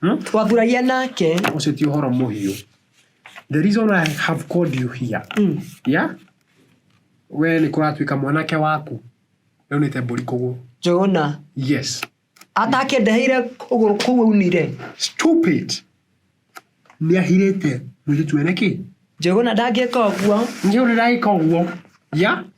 Hmm? Twamburagia nake. Ũcio ti ũhoro mũhiũ. The reason I have called you here. Mm. Yeah? We nĩ kũratuĩka mwanake waku. Rĩu nĩ tembũri kũgũ. Njũgũna. Yes. Atakĩndeheire ũgũrũ kũu aunire. Stupid. Nĩ ahirĩte mũirĩtu ene kĩ? Njũgũna ndangĩka ũguo. Njũgũna ndangĩka ũguo. Yeah?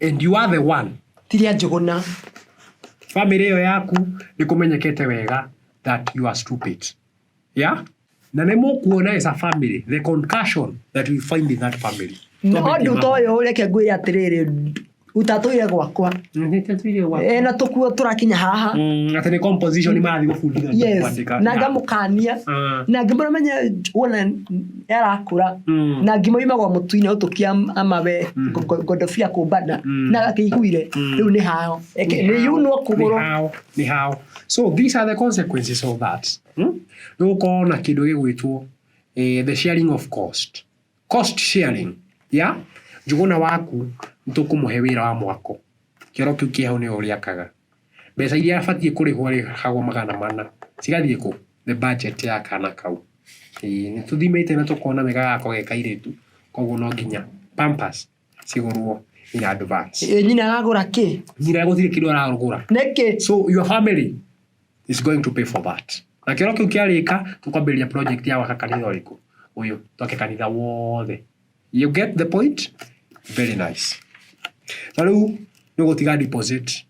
and you are the one ti rĩa njũgũna family ĩyo yaku nĩ kũmenyekete wega that you are stupid yeah na nĩ mũkuona as a family the concussion that we find in that family na ũndũ ta ũyũ reke ngwĩre atĩrĩrĩ utatũire gwakwa e, na tũkuo tũrakinya haha Mm, atĩ nĩ composition marathiĩ gũbundithania yes kwandĩka. na Yeah. ngamũkania Ah. na ngĩmũramenya wona yarakũra Mm. na ngima yumagwo mũtu-inĩ ũtũkia amawe Mm. ngo- ngondobia kũmbana Mm. na gakĩiguire Mm. rĩu nĩ hao Eke- nĩ yunwo kũgũrũ Ni how, ni how. So these are the consequences of that. Hmm? Nĩ gũkorwo na kĩndũ gĩgwĩtwo eh, the sharing of cost. Cost sharing. Ya? Njũgũna waku nĩ tũkũmũhe wĩra wa mwako. Kĩoro kĩu kĩho nĩ ũrĩakaga. Mbeca iria abatiĩ kũrĩhwo rĩ kagwo magana mana cigathiĩ kũ? Nĩ budget ya kana kau. Ĩĩ nĩ tũthimĩte na tũkona wega gako ge kairĩtu koguo no nginya pampers cigũrwo in advance. Ĩ nyina aragũra kĩ? Nyina gũtirĩ kĩndũ aragũra. Nĩkĩ? So your family is going to pay for that. Na kĩoro kĩu kĩarĩka tũkwambĩrĩria project ya gwaka kanitha ũrĩkũ? Ũyũ. Twake kanitha wothe. You get the point? Very nice. Na rĩu nĩ ũgũtiga deposit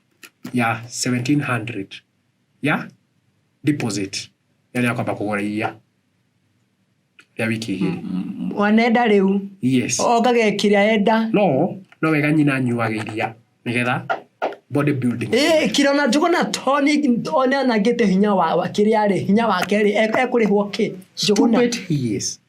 ya 1700 ya deposit ĩrĩa kwamba kũgũra iria rĩa wiki igĩrĩ. wanenda rĩu Yes. ongage kĩrĩa enda No, no wega nyina anyuaga iria nĩgetha body building. Ĩ, kira na njũgũ na toni one anangĩte hinya wa wa kĩrĩa rĩ hinya wake rĩ e- ekũrĩhwo kĩ njũgũ na Stupid he is.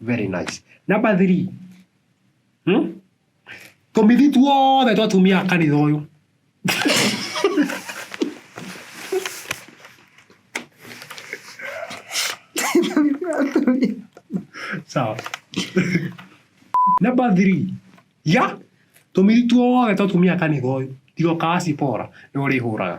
very nice number 3 hmm? tũmithi tuothe twa atumia a kanitha ũyũ sawa number 3 ya tũmithi tuothe twa atumia a kanitha ũyũ tigoka acipora nĩ ũrĩhũraga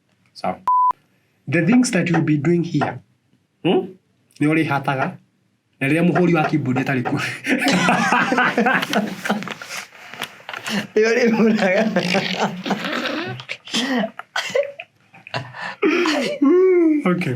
Sawa. The things that you'll be doing here. Hmm? Nĩ ũrĩ hataga. Na rĩrĩa mũhũri wa keyboard atarĩ kuo. Nĩ ũrĩ hũraga. Okay.